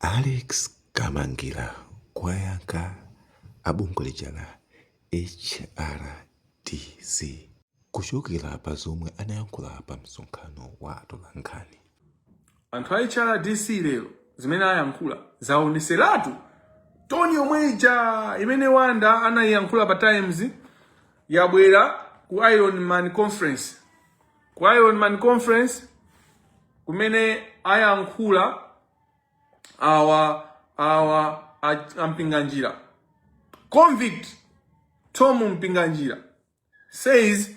Alex Kamangila kuwayankha abungwe lija la HRDC kuchokera pa zomwe anayankhula pa msonkhano wa atolankhani. Anthu a HRDC lero zimene ayankhula zaonetseratu toni yomwe ija imene Wanda anayiyankhula pa Times yabwera ku Iron Man Conference. Ku Iron Man Conference kumene ayankhula awa awa a- ampinganjira convict Thom Mpinganjira says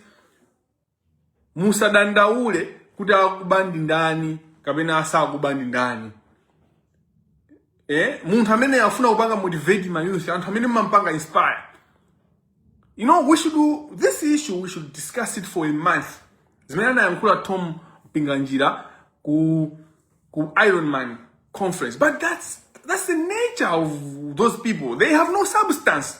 musadandaule kuti akuba ndi ndani kapena asakuba ndi ndani eh? munthu amene afuna kupanga motivate ma youth anthu amene mumampanga inspire you know we should do this issue we should discuss it for a month zimene anayankhula Thom Mpinganjira ku ku iron man conference but that's that's the nature of those people they have no substance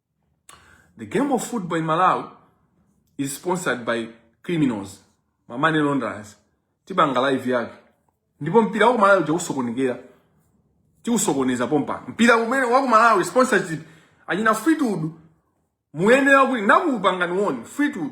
The game of football in Malawi is sponsored by criminals, ma money launderers. Tipanga live yake. Ndipo mpira wa ku Malawi uja usokonekera. Tiusokoneza pompa. Mpira umene wa ku Malawi sponsorship anyina Fleetwood muyenera kuti nakupangani woni Fleetwood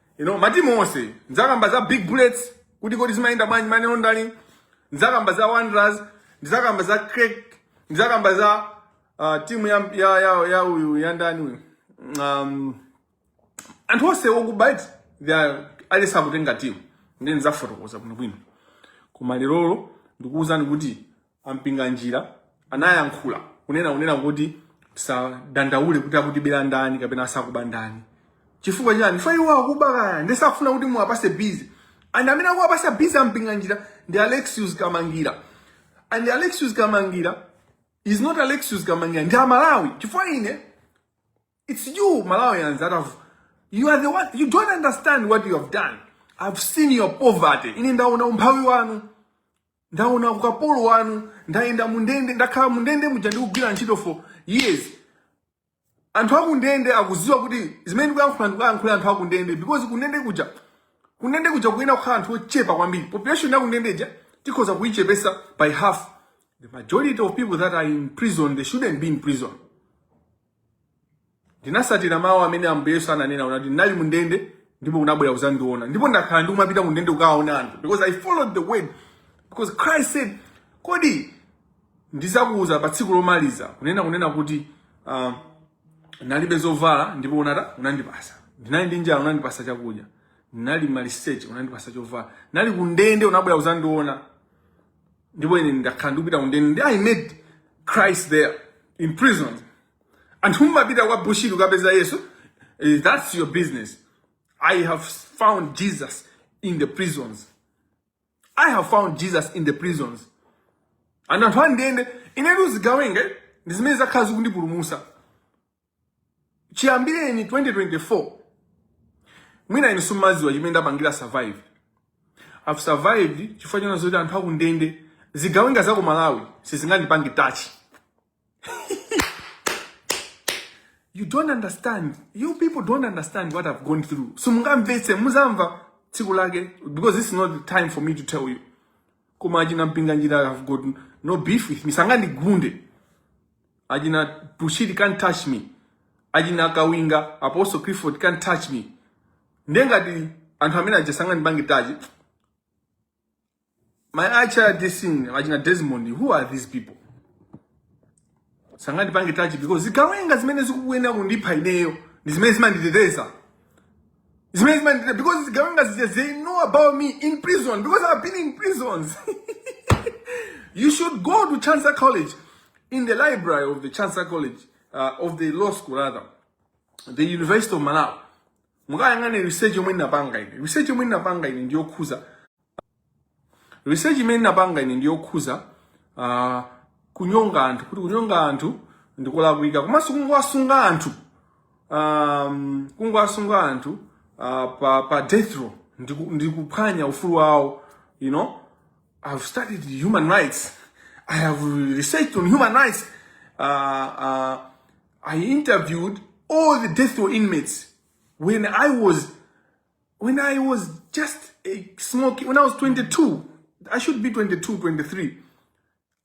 you know matimu onse ndzakamba za big bullets kuti kodi zimayenda bwanji money laundering ndzakamba za wanderers ndidzakamba za creck ndidzakamba za uh, timu ya ya ya ya uyu ya ndani uyu um, anthu onse okubaiti alesi akutenga timu ndiye ndidzafotokoza bwinobwino koma lerolo ndikuwuzani kuti a Mpinganjira anayankhula kunena kunena kuti tisadandaule kuti akutibera ndani kapena asakuba ndani chifukwa chani chifukwa iwo akuba kaya ndiye sakufuna kuti muwapase busy and amene akuwapasa busy ampinganjira ndi alexius kamangila and alexius kamangila is not alexius kamangila ndi amalawi chifukwa ine it's you malawians that have you are the one you don't understand what you have done i've seen your poverty ine ndaona umphawi wanu ndaona ukapolo wanu ndayenda mundende ndakhala mundende muja ndikugwira ntchito for years anthu akundende akuziwa kuti zimene ndikuyankhula ndikuyankhulira anthu akundende because kundende kuja kundende kuja kuyenera kukhala anthu ochepa kwambiri population yakundendeja tikhoza kuyichepesa by half the majority of people that are in prison they shouldn't be in prison ndinasatira mawu amene ambuye yesu ananena anati ndinali mu ndende ndipo unabwera kuzandiona ndipo ndakhala ndikumapita ku ndende kukawaona anthu because i followed the word because christ said kodi ndizakuuza pa tsiku lomaliza kunena kunena kuti uh, nalibe zovala ndipo unata unandipasa ndinali ndi njala unandipasa chakudya ndinali maliseche unandipasa chovala ndinali ku ndende unabwera kuzandiona ndipo ine ndakhala ndikupita kundende ndi i met christ there in prison anthu mumapita kwa bushiri kukapeza yesu eh, that's your business i have found jesus in the prisons i have found jesus in the prisons and anthu andende ine ndi zigawenga ndi zimene zakhala zikundipulumusa chiyambireni 2024 mwina inu simumaziwa chimene ndapangira survive i've survived chifukwa chona zoti anthu akundende zigawenga za ku malawi sizingandipange touch you don't understand you people don't understand what i've gone through simungamvetse muzamva tsiku lake because this is not the time for me to tell you koma achina mpinganjira have got no beef with me sangandigunde achina bushiri can't touch me achina kawinga apostle clifford can't touch me ndiye ngati anthu amene aja sangandipange touch my acha disin achina desmond who are these people sangandipange touch because zigawenga zimene zikuyenera kundipha ineyo ndi zimene zimanditeteza zimene zimandichita because zigawenga zija they know about me in prison because i've been in prisons you should go to chancellor college in the library of the chancellor college uh, of the law school rather the university of malawi mukayang'ane research yomwe ndinapanga ine research yomwe ndinapanga ine ndiyokhuza research imene ndinapanga ine ndi yokhuza uh, kunyonga anthu kuti kunyonga anthu ndikolakwika komanso kungowasunga anthu um, kungowasunga anthu uh, pa, pa death row ndiku- ndikuphwanya ufulu wawo you know i've studied human rights i have researched on human rights uh, uh, i interviewed all the death row inmates when i was when I was just a small kid, when I was 22, I should be 22, 23,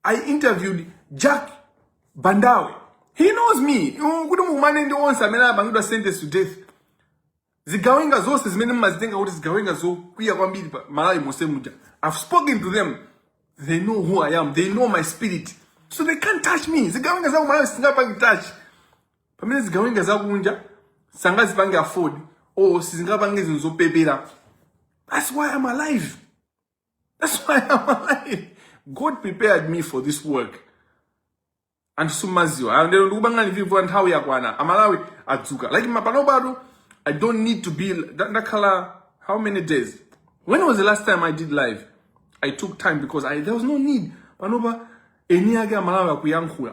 I interviewed Jack Bandawe. He knows me. Kuti mumane ndi onse amene anapangidwa sentence to death. Zigawenga zonse zimene mmazitenga kuti zigawenga zokwiya kwambiri pa Malawi monse muja. I've spoken to them. They know who I am. They know my spirit. So they can't touch me. Zigawenga za Malawi sizingandipange touch. pamene zigawenga zakunja sangazipange afford or sizingapange zinthu zopepera that's why i'm alive that's why i'm alive god prepared me for this work anthu simumaziwa Ah, ndero ndikupangani vivo nthawi yakwana amalawi adzuka like panopa i don't need to be nda- ndakhala how many days when was the last time i did live i took time because I, there was no need panopa eni ake amalawi akuyankhula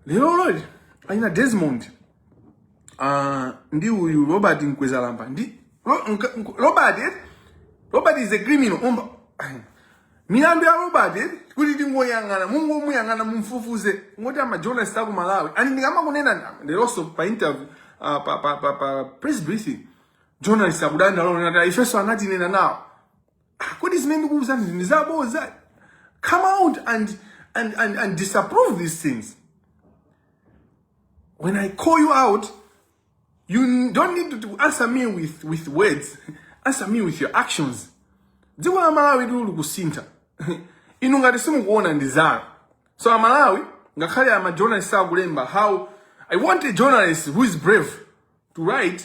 lero lonse a ina desmond uh, ndi uyu robert mkwezalamba ndi Ro, nka, nk, robert eh? robert is a criminal umba milandu ya robert eh? kuti tingoyang'ana mungomuyang'ana mumfufuze ngoti amajournalist aku malawi and ndikamakunena leronso pa interview uh, pa, pa, pa, pa press briefing journalist akudandaula kunena kuti ifenso anatinena nawo Ah, kodi zimene ndikuwuzanizi ndi zaboza come out and, and, and, and disapprove these things when i call you out you don't need to answer me with, with words answer me with your actions dziko la malawi tili kusintha inu ngati simukuona ndi zanu so amalawi ngakhale amajournalist akulemba how i want a journalist who is brave to write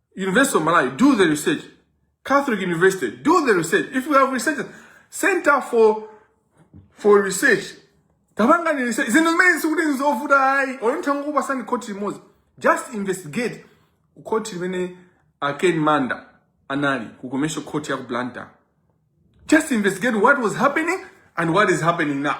University of Malawi, do the research. Catholic University, do the research. If we have research, Center for for Research, tabangani research. Zinthu zimene sikuti nzovuta ayi, olonitha ngokupasani khoti limodzi. Just investigate khoti limene a Ken Manda anali ku commercial court ya ku Blantyre. Just investigate what was happening and what is happening now.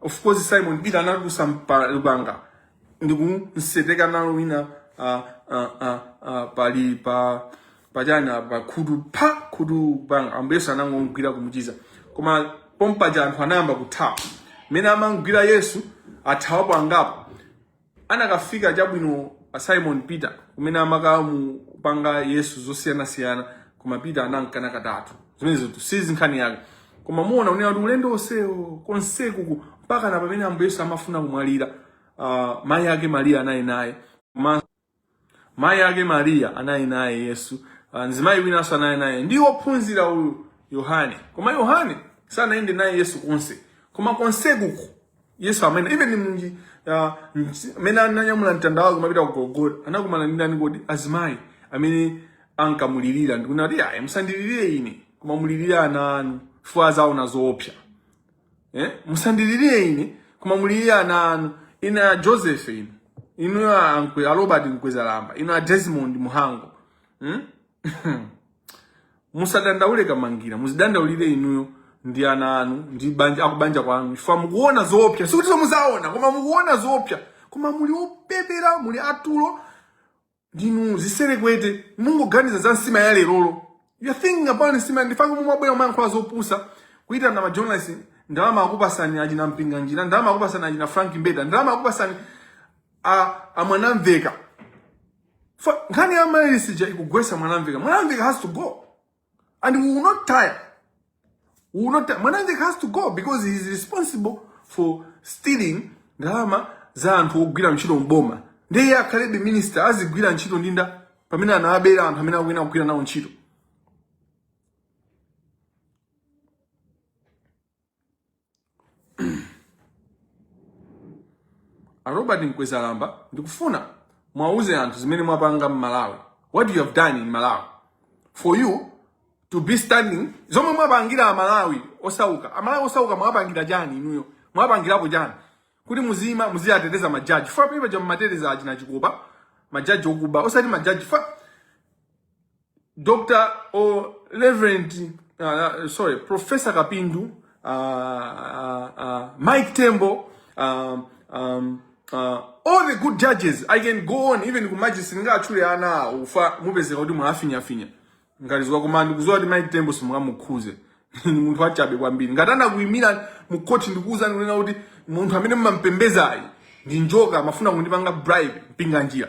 of course simon peter anatulutsa lupanga ndikumseteka nalo wina ah, ah, ah, ah, pali pa pachana pa khutu pa khutu panga ambuye yesu anangomgwira kumuchiza koma pompaja anthu anayamba kuthawa mmene amamgwira yesu athawapo angapo anakafika chabwino Simon Peter kumene amakamupanga Yesu zosiyanasiyana koma Peter anamkana katatu zimenezo si nkhani yake koma muona kunena kuti ulendo onsewo konsekuku mpaka na pamene ambuye yesu amafuna kumwalira uh, mayi ake mariya anayenda naye koma Mayi ake Mariya anayenda naye Yesu, ah, mzimayi winanso anayenda naye ndi wophunzira uyu Yohane. Koma Yohane sanayende naye Yesu konse, koma konsekuku Yesu mmene even mnji ah, msi- mmene ananyamula mtanda wake kumapita ku Golgotha anakumana ndi ndani kodi? Azimayi amene ankamulirira ndi kunena kuti ayi musandilirire ine koma mulirire ana anu chifukwa azaona zoopsa. eh? musandilirire ine koma mulirire ana anu inu a joseph inu a Nkwe- a robert mkwezalamba inu a desmond muhango hmm? musadandaule kamangila muzidandaulire inuyo ndi ana anu ndi banja akubanja kwanu chifukwa mukuona zoopsa sikuti muzaona koma mukuona zoopsa koma muli opepera muli atulo ndinu ziserekwete mungoganiza za nsima ya lerolo you're thinking about nsima nchifukwa chake mumabwera mumayankhula zopusa kuitana majournalist ndalama akupasani achina mpinganjira ndalama akupasani achina frank mbeta ndalama akupasani a, a mwanamvekha Fa- nkhani ya mayilosi ija ikugwesa mwanamvekha mwanamvekha has to go And we will not tire. We will not tire. Mwanamvekha has to go because he is responsible for stealing ndalama za anthu ogwira ntchito mboma. Ndiye iye akhalebe minister azigwira ntchito ndi ndani pamene anawabera anthu amene akuyenera kugwira nawo ntchito. A Robert Mkwezalamba ndikufuna mwauze anthu zimene mwapanga m'Malawi. What you have done in Malawi for you to be standing zomwe mwapangira amalawi osauka amalawi osauka mwapangira chani inuyo mwapangirapo chani kuti muzima muziyateteza majaji ifa pepa ncha mmateteza achina chikopa majaji okuba osati majaji ifa Dr. or Reverend, uh, uh, sorry, Professor Kapindu, uh, uh, uh, Mike Tembo, um, um, uh, all the good judges, I can go on even ku magistrate ndingatchule ana ufa mupezeka kuti mwafinya finya. Ngati tizo koma ndikudziwa kuti Mike Tembo simungamukhuze. Ni munthu wachabe kwambiri. Ngati anakuimira mu court ndikuuza ndikunena kuti munthu amene mumampembedzayi ndi njoka amafuna kundipanga bribe mpinga njira.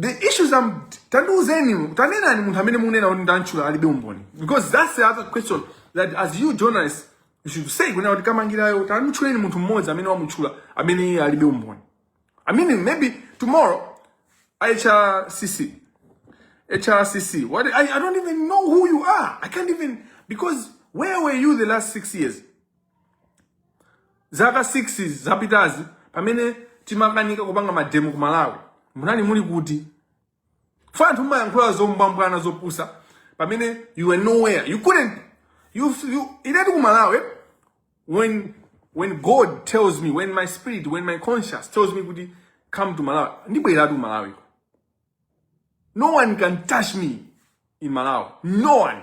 the issues tandiuzeni tanenani munthu amene mukunena kuti ndantchula alibe umboni because that's the other question that as you journalists you should say kunena kuti kamangirayo tantchuleni munthu mmodzi amene wamutchula amene iye alibe umboni i mean maybe tomorrow hrcc hrcc what I, i don't even know who you are i can't even because where were you the last six years zaka 6 zapitazi pamene timakanika kupanga mademo ku malawi munali muli kuti fa anthu mumayankhula zombwambwana zopusa pamene you were nowhere you couldn't you, you inetu ku malawi when when god tells me when my spirit when my conscience tells me kuti come to malawi ndibweratu ku malawi no one can touch me in malawi no one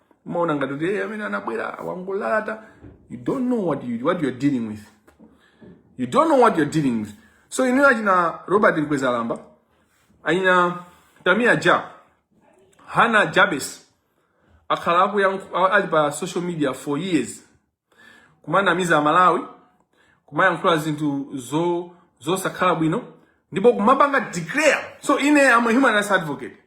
umaona ngati kuti "Eh, amene anabwera wangolalata you don't know what you, what you're dealing with you don't know what you're dealing with so inuyo achina robert mkwezalamba achina tamia ja hana jabez akhala akuyankhu- a- ali pa social media for years kumanamiza amalawi kumayankhula zinthu zo zosakhala bwino ndipo kumapanga declare so ine am a human rights advocate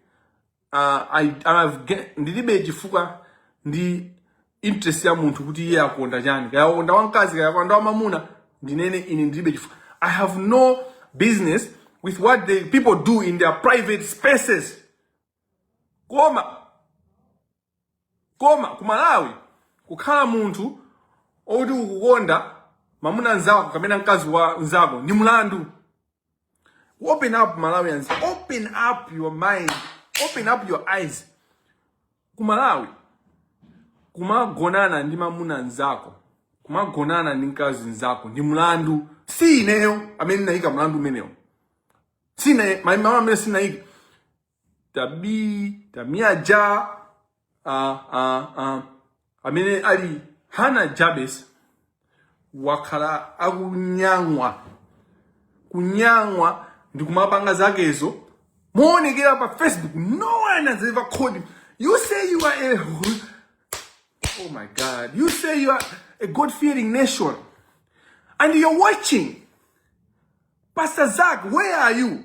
uh, I, I have get, ndilibe chifukwa ndilibe interest ya munthu kuti iye akukonda chani kaya akonda wamkazi kaya akukonda wamamuna ndinene ine ndilibe chifukwa i have no business with what the people do in their private spaces koma koma ku malawi kukhala munthu okuti ukukonda mamuna nzako kamena mkazi wa nzako ndi mlandu Open up Malawians. Open up your mind. Open up your eyes. Kumalawi. Kumagonana ndi mamuna nzako. Kumagonana ndi mkazi nzako. Ndi mlandu. Si ineyo amene naika mlandu umenewo. Si ine, mama amene sinaika. tabii tamiaja uh, uh, uh, amene ali hana jabes wakhala akunyang'wa kunyang'wa ndi kumapanga zakezo moonekera pa facebook no one has ever called him you say you are a oh my god you say you are a god fearing nation and you're watching pastor zak where are you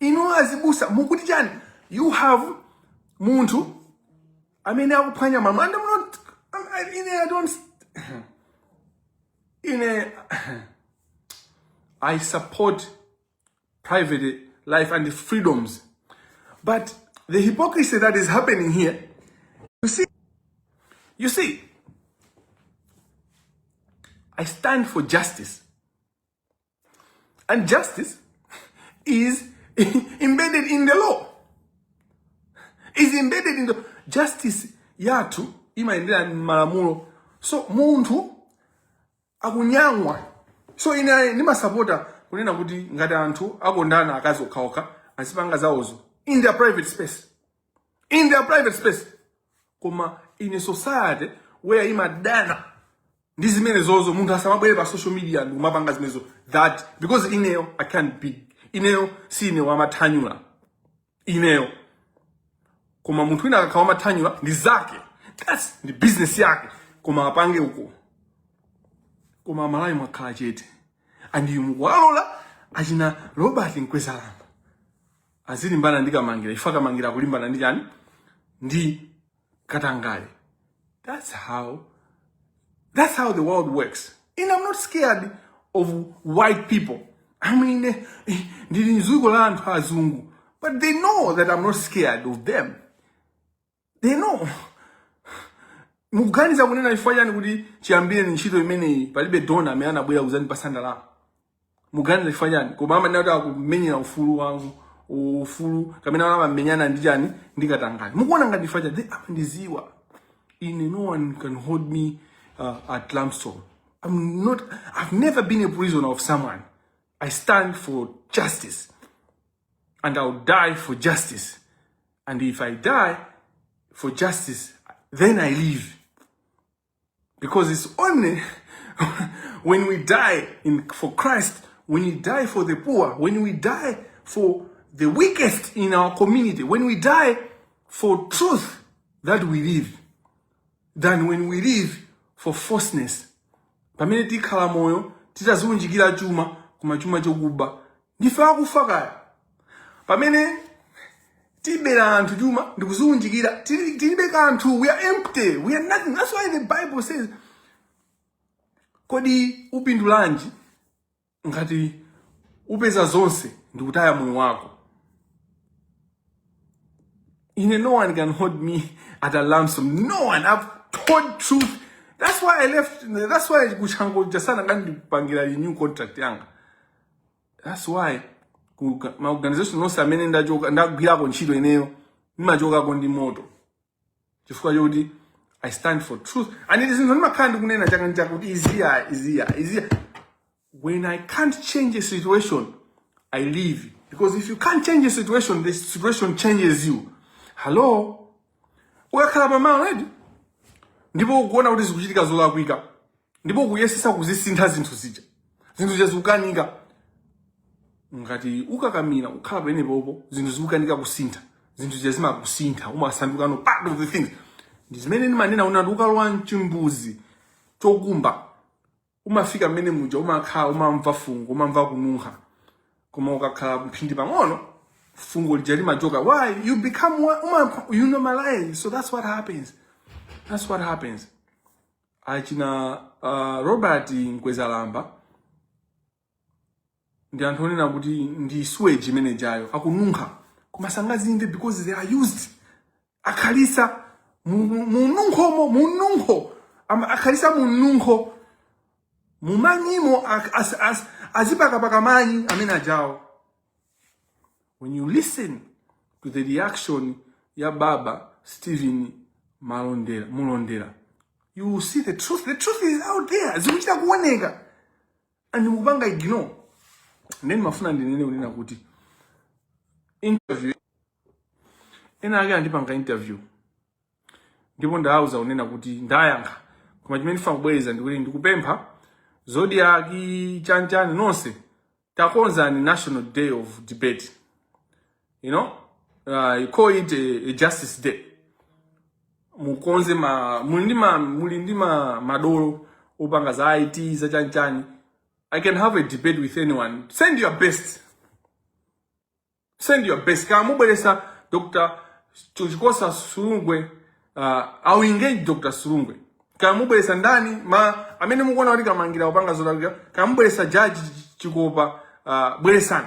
Inu azibusa mukuti chani? You have munthu amene akuphwanya malamulo. I'm not, I'm, ine I don't, ine I support private life and freedoms. But the hypocrisy that is happening here, you see, you see, I stand for justice. And justice is embedded in the law. Is embedded in the justice yathu imayendera malamulo. So munthu akunyang'wa. So ine ndimasapota kunena kuti ngati anthu akondana akazi okhaokha azipanga zawozo in their private space. in their private space koma in a society where imadana ndi zimenezozo munthu asamabwere pa social media ndi kumapanga zimenezo that because ineyo i can't be ineyo si ineyo amathanyula ineyo koma munthu wina akakhala amathanyula ndi zake that's ndi business yake koma apange uko koma amalawi mwakhala chete and you mukuwalola achina Robert Mkwezalamba azilimbana ndi Kamangira chifukwa Kamangira akulimbana ndi chani ndi katangale that's how that's how the world works and i'm not scared of white people i mean eh, eh, ndili mdziko la anthu azungu but they know that i'm not scared of them inu mukuganiza kunena chifukwa chani kuti chiyambireni ntchito imeneyi palibe donor amene anabwera kuzandipasa ndalama mukuganiza chifukwa chani koma amanena kuti akumenyera ufulu wanu ufulu kapena amamenyana ndi chani ndi katangale mukuona ngati chifukwa chani amandiziwa ine no one can hold me uh, at ransom i'm not i've never been a prisoner of someone i stand for justice and I'll die for justice. And if I die for justice, then I live. Because it's only when we die in, for Christ, when we die for the poor, when we die for the weakest in our community, when we die for truth that we live, than when we live for falseness. Pamene tikhala moyo titaziunjikira chuma koma chuma chokuba ndife akufa kaya pamene tibera anthu chuma ndikudziunjikira tili- tilibe kanthu we are empty we are nothing that's why the bible says kodi upindulanji ngati upeza zonse ndikutaya moyo wako ine no one can hold me at a ransom no one i've told truth that's why i left that's why ku Chanco sanakandipangire renew contract yanga that's why ku ka- ma organization onse amene ndachoka ndagwirako ntchito ineyo ndimachokako ndi moto chifukwa chokuti i stand for truth and izi zinthu ndimakhala ndikunena chaka ndi chaka kuti izi izi izi when i can't change a situation i leave because if you can't change a situation the situation changes you hello ukakhala pamalo eti ndipo ukuona kuti zikuchitika zolakwika ndipo ukuyesesa kuzisintha zinthu zija zinthu zija zikukanika ngati ukakamira kukhala pamenepopo zinthu zikukanika kusintha zinthu zija zimakusintha umasandukano part of the things ndi zimene ndimanena unati ukalowa mchimbuzi chokumba umafika mmene muja umakhala umamva fungo umamva kununkha koma ukakhala mphindi pang'ono fungo lija limachoka why you become one- uma, you normalize so that's what happens that's what happens achina uh, robert mkwezalamba ndi anthu onena kuti ndi sewage imene ijayo akununkha koma sangazimve because they are used akhalisa mununkhomo mununkho Ama- akhalisa mununkho mumanyimo ak- as- as- azipakapaka manyi amene ajawo when you listen to the reaction ya baba stephen malondera you will see the truth the truth is out there zikuchita kuoneka and mukupanga ignore nde ndimafuna ndinene kunena kuti interview ena ake andipanga interview ndipo ndawauza kunena kuti ndayankha koma chimene ndifuna kubwereza ndikuti ndikupempha zodiak chanchani nonse takonzani national day of debate you know uh, you call it a, a justice day mukonze ma muli ndi ma muli ndi ma madolo opanga za IT za chanchani I can have a debate with anyone send your best send your best kaya mubweresa Dr. Chikosa Silungwe uh, I'll engage Dr. Silungwe kaya mubweresa ndani ma amene mukuona kuti kamangila akupanga zolakwika kaya mubweresa judge Chikopa uh, bweresani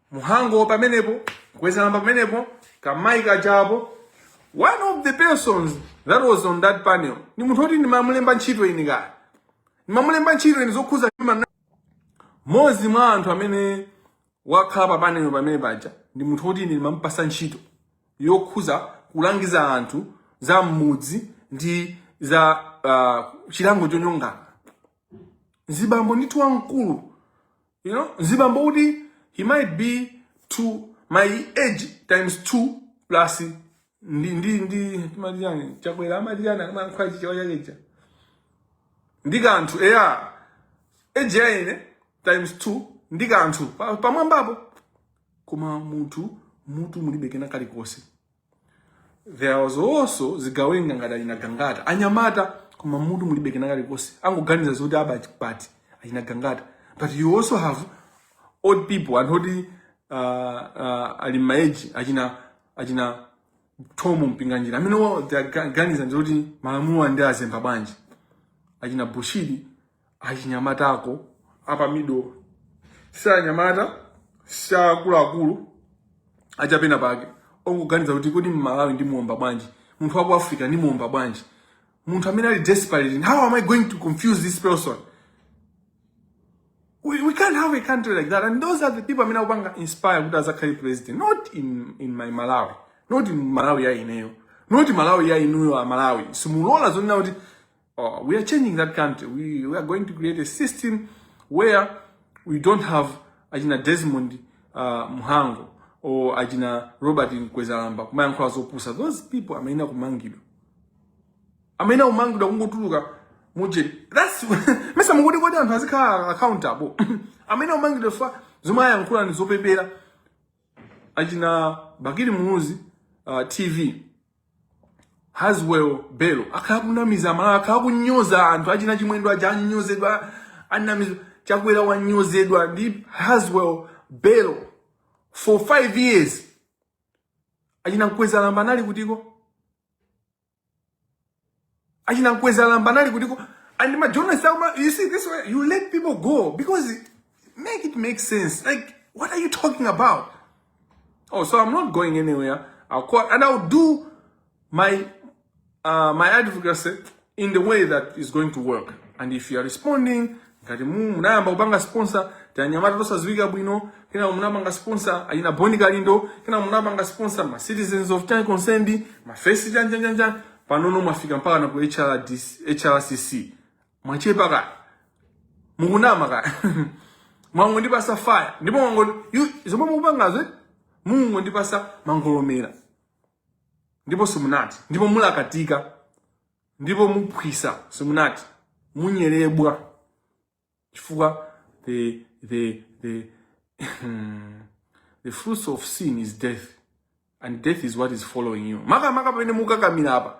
mhango pamenepo mkwezalamba pamenepo kamayi kajapo one of the persons that was on that panel ni munthu oti ndimamulemba ntchito ine kaya ndimamulemba ntchito ine zokhuza human mmodzi mwa anthu amene wakhala pa panel pamene paja ndi munthu oti ine ndimamupasa ntchito yokhuza kulangiza anthu za mmudzi ndi za uh, chilango chonyongana mzibambo ndithu wamkulu you know mzibambo oti he might be to my age times two plus ndi ndi ndi timati chani chakwera amati chani akamayankhula chichewa chakecha ndi kanthu eya age ya ine times two ndi kanthu Pa- pamwambapo koma munthu mutu mulibe kena kalikonse there was also zigawenga ngati achina gangata anyamata koma mutu mulibe kena kalikonse angoganiza zoti aba pati achina gangata but you also have old people anthu oti uh, uh, ali ma age achina achina Thom Mpinganjira amene amaganiza ndi zoti malamulo ndiwazemba bwanji achina bushiri achina Matako a pa middle si anyamata si akuluakulu achapena pake ongoganiza kuti kodi mmalawi ndimuomba bwanji munthu wa ku africa ndimuomba bwanji munthu amene ali desperate how am i going to confuse this person we, we can't have a country like that and those are the people amene akupanga inspire kuti azakhale president not in, in my malawi not in malawi ya ineyo not malawi ya inuyo a malawi simungalole zonena kuti we are changing that country. We, we are going to create a system where we don't have achina Desmond uh, Mhango or achina Robert Mkwezalamba kumayankhula zopusa. Those people amayenera kumangidwa. Amayenera kumangidwa kungotuluka muje. That's mesa mungodi kodi anthu azikhala accountable. amayenera kumangidwa chifukwa zomwe amayankhula ndi zopepera. Achina Bakili Muluzi uh, TV Haswell Bello akhala kunamiza amalawi akhala kunyoza anthu achina chimwendo aja anyozedwa anamiza chakwera wanyozedwa ndi Haswell Bello for five years achina mkwezalamba anali kutiko achina mkweza lamba anali kutiko and my journalists are you see this way you let people go because it, make it make sense like what are you talking about oh so i'm not going anywhere i'll call and i'll do my uh, my advocacy in the way that is going to work and if you are responding ngati mu munayamba kupanga sponsor tanyamata tosaziwika bwino kenako munapanga sponsor achina Bon Kalindo kenako munapanga sponsor ma citizens of time concerned ma face janja janja panopo mwafika mpaka na ku HRCC mwachepa ka mukunama ka mwangondipatsa fire ndipo mwango yu- zomwe mukupangazo eh? mukungondipatsa mangolomera ndipo simunati ndipo mulakatika ndipo muphwisa simunati munyerebwa chifukwa the the the the fruits of sin is death and death is what is following you makamaka pamene mukukakamira apa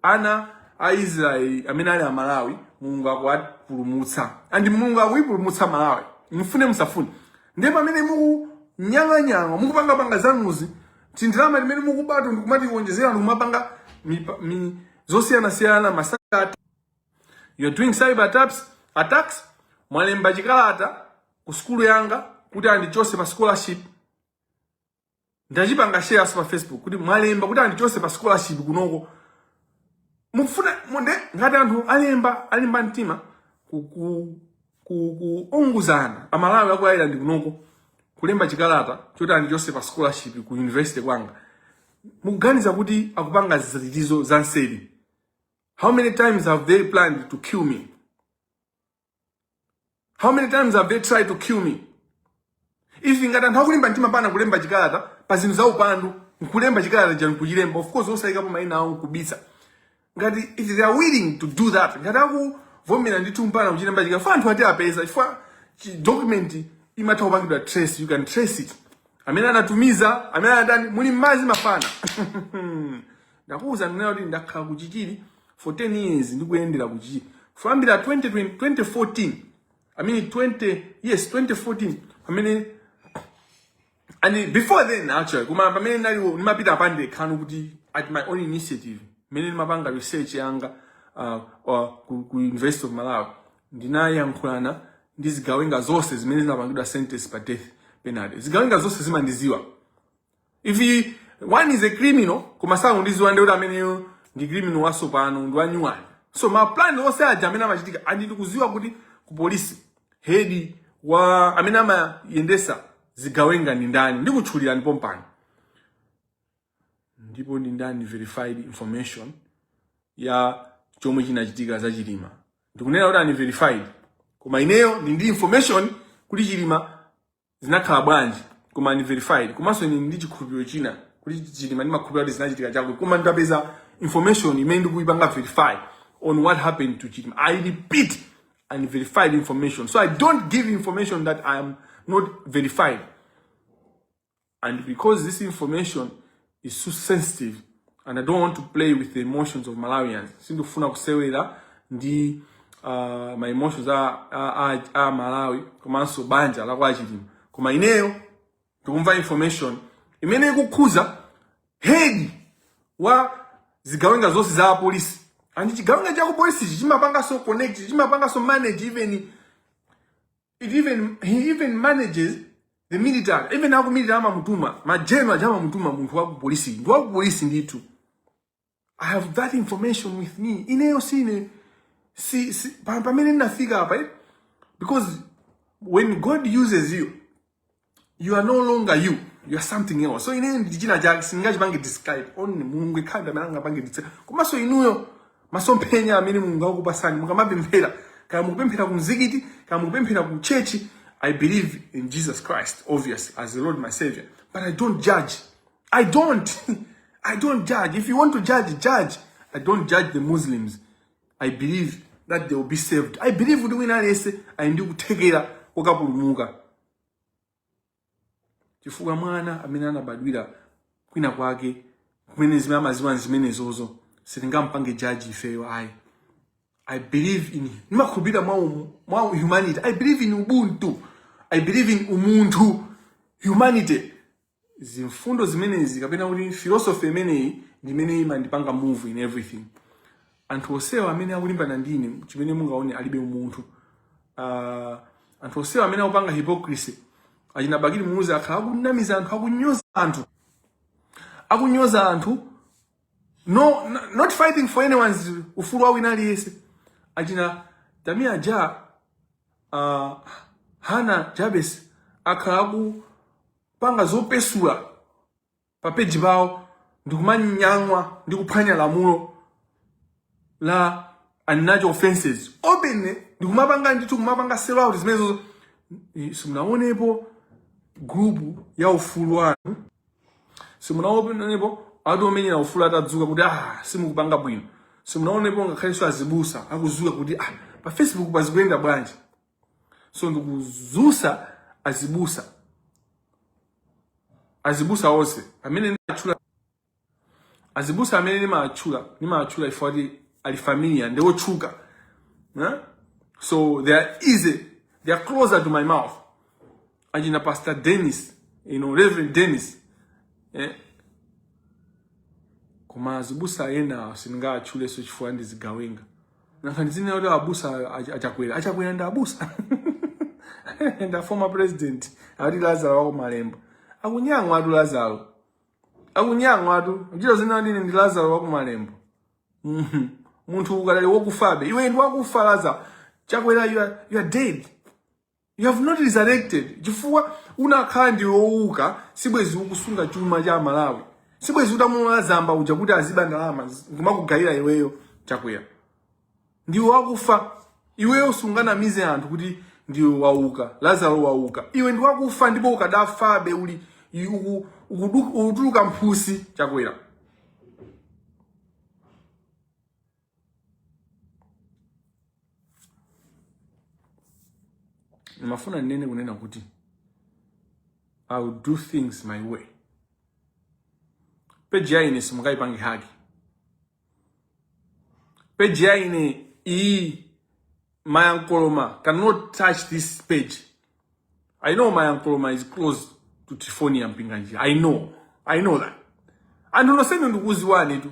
ana a israeli amene ali amalawi mulungu akuwapulumutsa and mulungu akuyipulumutsa malawi mufune musafune ndiye pamene mukunyang'anyang'a mukupangapanga zanuzo tindalama timene mukubato ndikumatiwonjezera ndikumapanga zosiyanasiyana masaka you're doing cyber attacks mwalemba chikalata ku sukulu yanga kuti andichotse pa scholarship ndachipanga share-nso pa facebook kuti mwalemba kuti andichotse pa scholarship kunoko mufuna muone ngati anthu alemba alimba mtima kuku kuunguzana Amalawi aku Ireland kunoko kulemba chikalata choti andichose pa scholarship ku university kwanga mukuganiza kuti akupanga zinthuzo za nseri how many times have they planned to kill me how many times have they tried to kill me if ngati anthu akulimba mtima mpana kulemba chikalata pa zinthu za upandu nkulemba chikalatacho nkuchilemba of course osayikapo maina awo nkubisa ngati if they are willing to do that ngati akuvomera ndithu mpana kuchilemba chikalata poti anthu atiapeza chifukwa chi- document imatha kupangidwa trace you can trace it amene anatumiza amene anatani muli mmadzi mafana ndakuwuza ine kuti ndakhala kuchichiri for 10 years ndikuyendera kuchichiri kuyambira 2020 2014 I mean 20 yes 2014 I mean and before then actually koma pamene ndinali ndimapita pandekha kuti at my own initiative mmene ndimapanga research yanga uh, uh, ku, ku University of Malawi ndinayankhulana ndi zigawenga zonse zimene zinapangidwa sentence pa death penalty zigawenga zonse zimandiziwa if he, one is a criminal koma sakundiziwa nde kuti ameneyo ndi criminal wasopano ndi wanyuwani so ma plan onse aja amene amachitika andi ndikuziwa kuti ku polisi head wamene amayendesa zigawenga ndi ndani ndikutchulirani pompano ndipo ndili ndi unverified information ya chomwe chinachitika za chilima ndikunena kuti unverified koma ineyo ndili ndi information kuti chilima zinakhala bwanji koma unverified komanso ndili ndi chikhulupiriro china kuti chilima ndimakhulupirira kuti zinachitika Chakwera koma nditapeza information imene ndikuyipanga verify on what happened to chilima i repeat unverified information so i don't give information that i am not verified and because this information is too sensitive and I don't want to play with the emotions of Malawians. Sindifuna kusewera ndi uh, ma emotions a, a, a, a Malawi komanso banja la kwa Chilima. Koma ineyo ndikumva information imene ikukhuza head wa zigawenga zonse za polisi and chigawenga cha ku polisi chimapanganso connect chimapanganso manage even It even he even manages the military. Even aku military amamutuma, ma general aja amamutuma munthu wa ku polisi. Ndi wa ku polisi ndithu. I have that information with me. Ineyo sine si, si pa- pamene ndafika apa eh? because when God uses you you are no longer you you are something else so ine ndi china chake sindingachipange describe only mulungu yekha ndi amene angapange describe komanso inuyo masomphenya amene mulungu akupasani mukamapemphera kaya mukupemphera ku mzikiti kaya mukupemphera ku church i believe in jesus christ obviously as the lord my savior but i don't judge i don't i don't judge if you want to judge judge i don't judge the muslims i believe that they will be saved i believe kuti wina aliyense ali ndi kuthekera kokapulumuka chifukwa mwana amene anabadwira kwina kwake kumene zimene amaziwa n'zimenezozo sitingampange judge ifeyo ayi i believe in ndimakhulupirira mwa, um, mwa humanity i believe in ubuntu i believe in umunthu humanity zimfundo zimenezi kapena kuti philosophy imeneyi ndi imene imandipanga move in everything anthu onsewa amene akulimbana ndi ine chimene mungaone alibe umunthu uh, anthu onsewa amene akupanga hypocrisy achina bakili muluzi akhala akunamiza anthu akunyoza anthu akunyoza anthu no n- not fighting for anyone's ufulu wa wina aliyense achina tamia ja uh, hana jabes akhala aku panga zopesula pa page pawo ndikumanyang'wa ndikuphwanya lamulo la unnatural offenses openly ndikumapanga ndithu kumapanga sell out zimenezo Eh, simunaonepo group ya ufulu wanu simunaonepo ati omenyera ufulu atadzuka kuti ah simukupanga bwino simunaonepo ngakhalenso azibusa akudzuka kuti ah pa facebook pazikuyenda bwanji so ndikuzusa azibusa azibusa onse amene ndimatchula azibusa amene ndimatchula ndimatchula ifeyo oti ali familiar ndi otchuka eh? so they are easy they are closer to my mouth achina pastor dennis you know, reverend dennis eh? koma azibusa ena sindingawatchuleso chifukwa ndizigawenga monga achina kuti abusa achakwera achakwera ndi abusa and a former president ati lazaro wako malembo akunyang'wa ati lazaro akunyang'wa ati kuchita zina ndine ndi lazaro wako malembo mhm. munthu ukanali wokufabe iwe ndi wakufa lazaro chakwera you are, you are dead You have not resurrected chifukwa unakakhala ndiwe owuka sibwezi ukusunga chuma cha aMalawi. Sibwezi utamulola Zamba uja kuti aziba ndalama kumakugayira iweyo chakwera. Ndiwe wakufa. Iweyo usanganamize anthu kuti ndiwe wauka. Lazaro wauka. Iwe ndi wakufa ndipo ukadafabe uli uku- ukudu- ukutuluka mphutsi chakwera. ndimafuna ndinene kunena kuti i will do things my way peji ya ine simungayipange haki peji ya ine iyi mayankoloma cannot touch this page i know mayankoloma is close to trifonia mpinganji i know i know that anthu nonsenu ndikuuziwanitu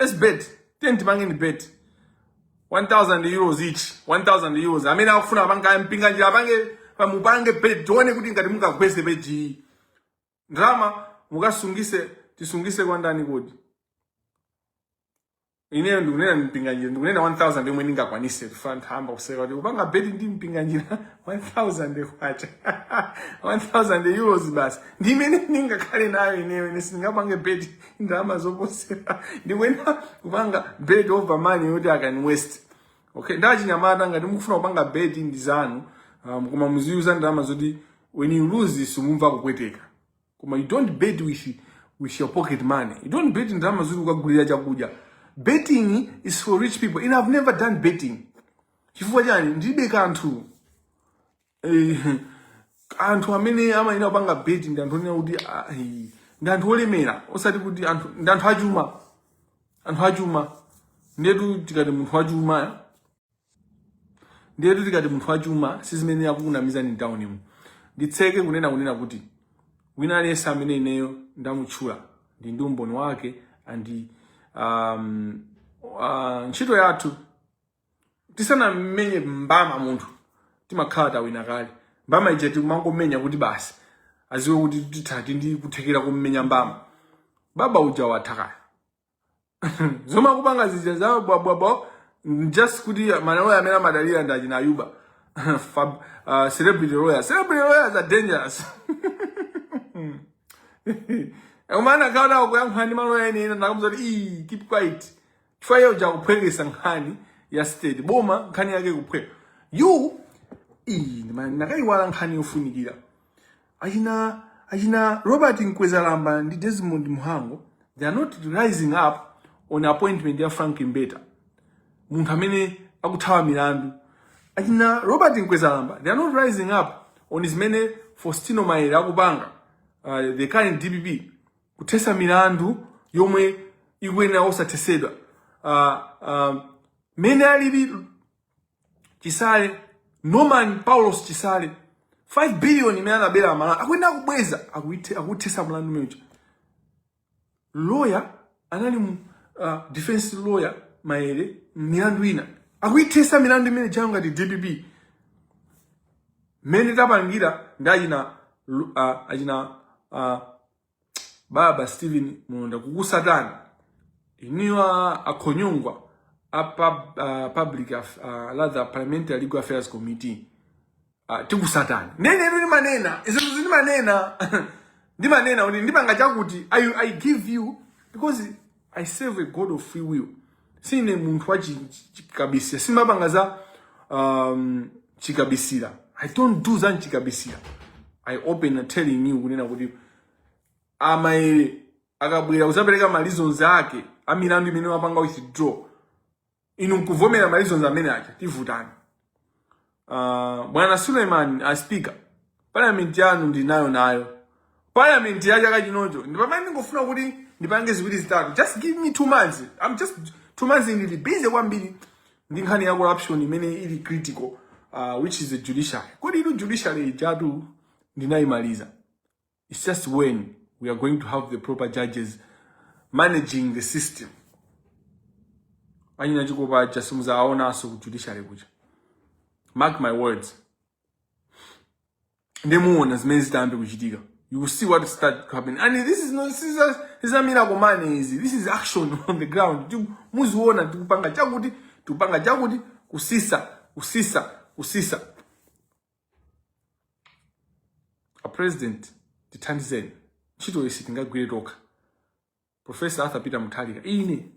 Let's bet. Tiyeni tipangane bet. 1000 euros each. 1000 euros. Amene akufuna apange Mpinganjira apange pamupange bet. Tione kuti ngati mungagwese page iyi. Ndalama mukasungise tisungise kwa ndani kodi? Ineyo ndikunena Mpinganjira ndikunena 1000 yomwe ndingakwanise kufana nthamba kuseka kuti kupanga bet ndi Mpinganjira 1000 kwacha. 1000 euros basi. Ndi imene ndingakhale nayo ineyo ine sindingapange bet ndalama zoposera ndikuyenera kupanga bet over money yoti I can waste okay achinyamata ngati mukufuna kupanga bet ndi zanu um, koma muziuza ndalama zoti when you lose simumva kupweteka koma you don't bet with, with your pocket money you don't bet ndalama zoti ukagulira chakudya betting is for rich people and i've never done betting chifukwa chani ndilibe kanthu Eh, anthu amene amayenera kupanga beti ndi anthu onena kuti ah, eh, ndi anthu olemera osati kuti anthu ndi anthu achuma anthu achuma ndetu tikati munthu wachuma eh? ndetu tikati munthu wachuma si zimene akukunamizani mtaunimu nditseke ponena kunena kuti wina aliyense amene ineyo ndamutchula ndili ndi umboni wake and um, uh, ntchito yathu tisanammenye mbama munthu timakhala tawina kale mbama ija timangomenya kuti basi aziwe kuti tili ndi kuthekera kummenya mbama baba uja watha kale zomwe akupanga zija za bwabwabwa just kuti maloya amene amadalira ndi achina ayuba Fab, uh, celebrity lawyers celebrity lawyers are dangerous umakaona akuyankhula ndi maloya enaake n'kumawauza kuti "Ii, keep quiet chifukwa iye uja akuphwekesa nkhani ya state boma nkhani yake kuphweka you iyi ndima- ndakayiwala nkhani yofunikira achina achina robert mkwezalamba ndi desmond muhango they are not rising up on appointment ya frank mbeta munthu amene akuthawa milandu achina robert mkwezalamba they are not rising up on zimene fostino maele akupanga uh, the current dpp kuthesa milandu yomwe ikuyenera kusathesedwa uh, uh, mene alili chisale norman paulos chisale 5 billion imene anabera amalawi akuyenera kubweza akuithe- akuthesa mlandu umeneja lawyer anali uh, defense lawyer maere milandu ina akuithesa milandu imeneijayo ngati dpp mmene tapangira ndi achina lu- ah, achina ah, baba Steven Mulonda kukusatani inuyo akhonyongwa a pub, uh, public af, uh, rather parliamentary legal affairs committee uh, tikusatani nde ineyo ndimanena zinthu zindimanena ndimanena kuti ndipanga chakuti I, i give you because I serve a God of free will. Sine munthu wa chi- chi- chikabisira. Sindimapanga za um, chikabisira. I don't do za chikabisira. I open telling you kunena kuti amaere akabwera kuzapereka ma reasons ake amilandu imene wapanga withdraw inu nkuvomera ma reasons amene aja tivutana uh, bwana suleiman a speaker parliament yanu ndinayo nayo parliament ya chaka chinocho ndi pamene ndingofuna kuti ndipange ziwiri zitatu just give me two months i'm just two months ndili busy kwambiri ndi nkhani ya corruption imene ili critical uh, which is the judiciary kodi inu judiciary ijatu ndinayimaliza It's just when we are going to have the proper judges managing the system. Anyina chikopa aja simuzaonaso ku judiciary kuja. Mark my words. Ndemuona zimene zitambe kuchitika. You will see what start happening. And this is not this is a, this is a miracle money easy. This is action on the ground. Ti- Muziona tikupanga chakuti, tikupanga chakuti kusisa, kusisa, kusisa. a president tithandizeni ntchito isitingagwire tokha profesa arthur peter mutharika ine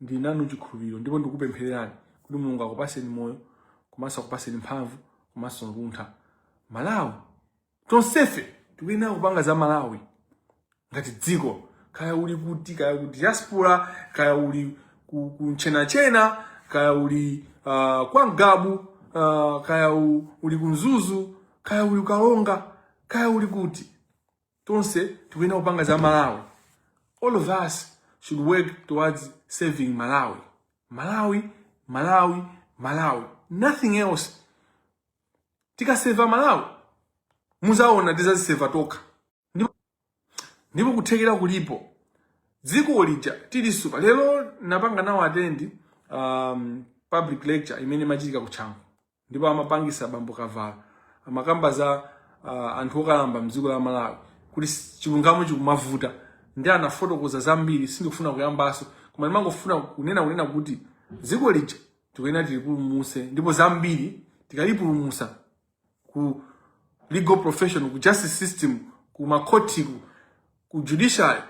ndili nanu chikhulupiriro ndipo ndikupemphererani kuti mulungu akupaseni moyo komanso akupaseni mphamvu komanso luntha malawi tonsefe tikuyenera kupanga za malawi ngati dziko kaya uli kuti kaya ku diaspora kaya uli ku, ku ntchenatchena kaya uli uh, kwa ngabu uh, kaya u, uli ku mzuzu kaya uli ku karonga kaya uli kuti tonse tikuyenera kupanga za malawi all of us should work towards saving malawi malawi malawi malawi nothing else tikaseva malawi muzaona tizaziseva tokha ndipo, ndipo kuthekera kulipo dziko lija tiliseva lero napanga nawo attend um, public lecture imene imachitika kutchango ndipo amapangisa bambo kavala amakamba za uh, anthu okalamba mdziko la malawi kuti s- chilungamo chikumavuta ndi anafotokoza zambiri sindikufuna kuyambaso koma ndimangofuna kunena kunena kuti dziko lija tikuyenera tilipulumuse ndipo zambiri tikalipulumusa ku legal profession ku justice system ku makhoti ku, ku judiciary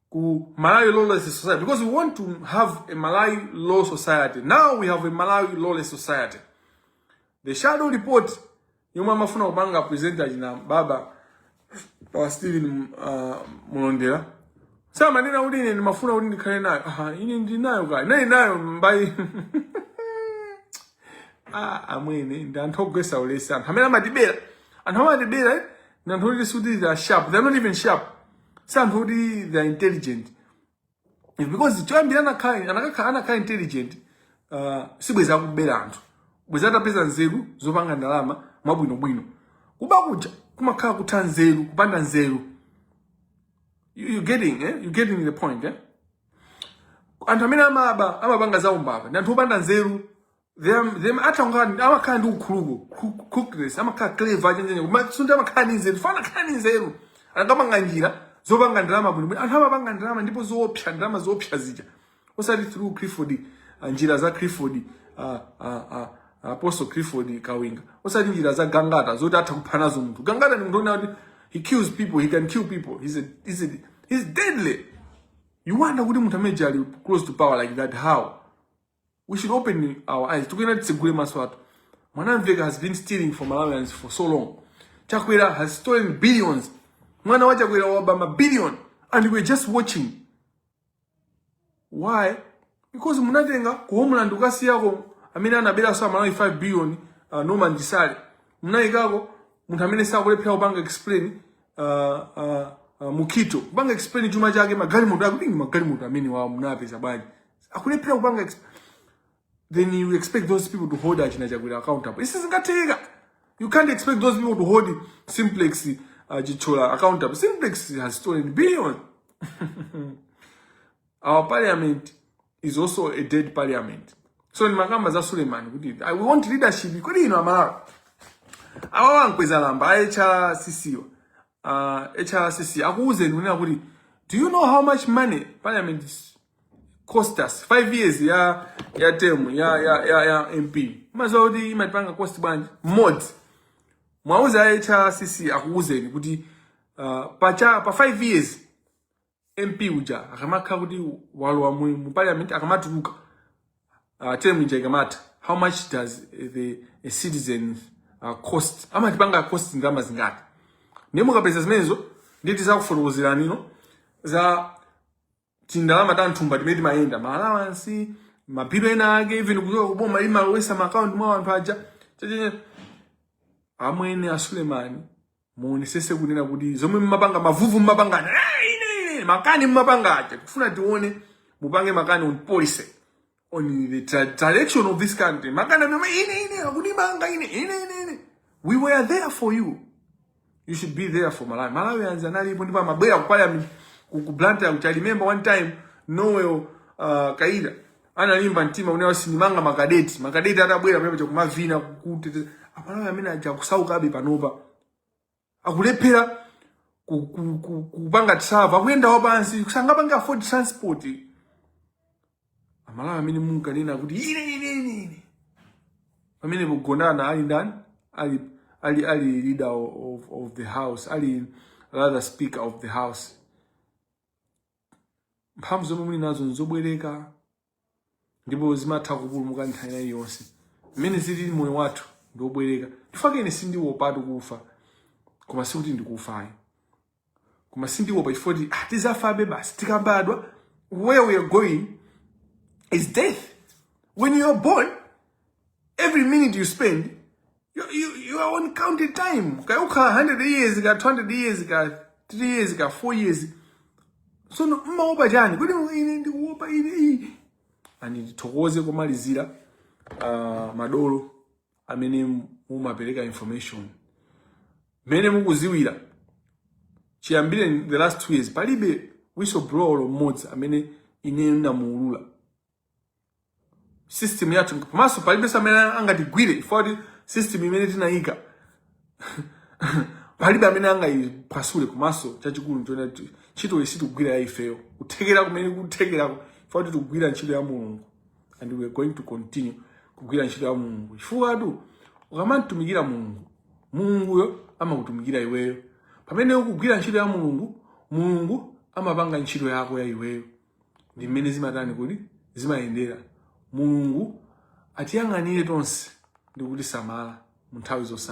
ku Malawi Lawless Society because we want to have a Malawi Law Society. Now we have a Malawi Lawless Society. The shadow report yomwe amafuna kupanga present achina baba pa Steven uh, Mulondera samanena kuti ine ndimafuna kuti ndikhale nayo aha ine ndinayo kale nayi nayo mbayi ah amwene ndi anthu ogwesa ulesi anthu amene amatibera anthu amatibera eh, ndi anthu oti sikuti they are sharp they are not even sharp si anthu oti they are intelligent It's because choyambira anakhala anakakhala anakhala intelligent uh, sibwezi akubera anthu bwezi atapeza nzeru zopanga ndalama mwabwinobwino kuba kuja kumakhala kutha nzeru kupanda nzeru you, you getting eh? you getting the point eh? anthu amene amaba amapanga zaumbava ndi anthu opanda nzeru them them atha kukhala amakhala ndi ukhuluku crook- crookness amakhala clever achenjenya koma sikuti amakhala ndi nzeru chifukwa anakhala ndi nzeru anakapanga njira zopanga ndalama bwinobwino anthu amapanga ndalama ndipo zoopsa ndalama zoopsa zija osati through clifford ah, njira za clifford ah, ah, ah, apostle clifford kawinga osati njira za gangata zoti atha kupha nazo munthu gangata ndi munthu onena kuti he kills people he can kill people he's, a, he's, a, he's deadly you wonder kuti munthu amene ali close to power like that how we should open our eyes tikuyenera titsegule maso athu mwanamvekha has been stealing from malawians for so long chakwera has stolen billions mwana wa chakwera waba mabillion and we're just watching why because munatenga ku homeland kukasiyako amene anaberaso amalawi 5 billion uh, norman chisale munayikako munthu ameneso akulephera kupanga explain uh, uh, uh, mukhito kupanga explain chuma chake magalimoto akuti ndi magalimoto amene wawo munapeza bwanji akulephera kupanga exp- then you expect those people to hold achina chakwera accountable isi zingatheka you can't expect those people to hold simplex uh, chichola accountable simplex has stolen billions our parliament is also a dead parliament so ni makamba za suleiman kuti i want leadership kodi ino amalawi awa wankweza lamba a hrcc wa uh, hrcc akuuzeni kunena kuti do you know how much money parliament is cost us 5 years ya ya term ya ya ya, ya mp mmadziwa kuti imatipanga cost bwanji mmodzi muwauze hrcc akuuzeni kuti uh, pa, cha, pa 5 years mp uja akamakhala kuti walowa mu, mu parliament akamatuluka uh, term ija ikamatha how much does the a citizen uh, cost amatipanga cost ndalama zingati ndiye mukapeza zimenezo ndiye tizakufotokozerani no za tindalama ta mthumba timene timayenda ma allowance mabhilo ena ake even kuchoka kuboma imalowesa ma account mwa anthu aja Chachacha. amwene a suleman muonesese kunena kuti zomwe mmapanga mavuvu mmapanga aja, "Eh, ine ine makani mmapanga aja tikufuna tione mupange makani on policy on the tra- direction of this country makani mema ine ine akundimanga ine ine ine ine we were there for you you should be there for malawi amalawi anzanu analipo ndipo amabwera ku parliament ku ku blantyre which i remember one time noel uh, kaira analimba mtima kunena sinimanga makadeti makadeti atabwera pamenepaja kumavina kuteteza amalawi amene aja kusaukabe panopa akulephera ku- ku- ku- kupanga travel akuyenda wapansi sangapange afford transport aMalawi amene munkanena kuti ine ine ine ine pamene Gondwe ali ndani ali ali ali leader of, of the house ali rather speaker of the house mphamvu zomwe muli nazo nzobwereka ndipo zimatha kupulumuka nthawi ina iliyonse mmene zilili moyo wathu ndi wobwereka ndi chifukwa chake ine sindiopatu kufa koma sikuti ndikufayo koma sindiopa chifukwa kuti ah, tidzafabe basi tikabadwa where we are going is death when you are born every minute you spend You, you, you are on counted time. Kaya ukhala 100 years, kaya 200 years, kaya 3 years, kaya 4 years. Tsono mmaopa chani. Kodi ine ndikuopa ine iyi. And ndithokoze komalizira uh, madolo amene mumapereka information. Mmene mukudziwira. Chiyambire in the last 2 years palibe whistleblower mmodzi amene ine ndamuulula. system yathu komanso palibe amene angatigwire chifukwa kuti system imene tinayika palibe amene angayiphwasule komanso chachikulu nchona kuti ntchito iyi sitikugwira ya ifeyo kuthekera kumene kuthekerako chifukwa kuti tikugwira ntchito ya mulungu and we are going to continue kugwira ntchito ya mulungu chifukwatu ukamamtumikira mulungu mulunguyo amakutumikira iweyo pamene ukugwira ntchito ya mulungu mulungu amapanga ntchito yako ya iweyo ndi mmene zimatani kodi zimayendera mulungu atiyang'anire tonse ndi kutisamala mu nthawi zonse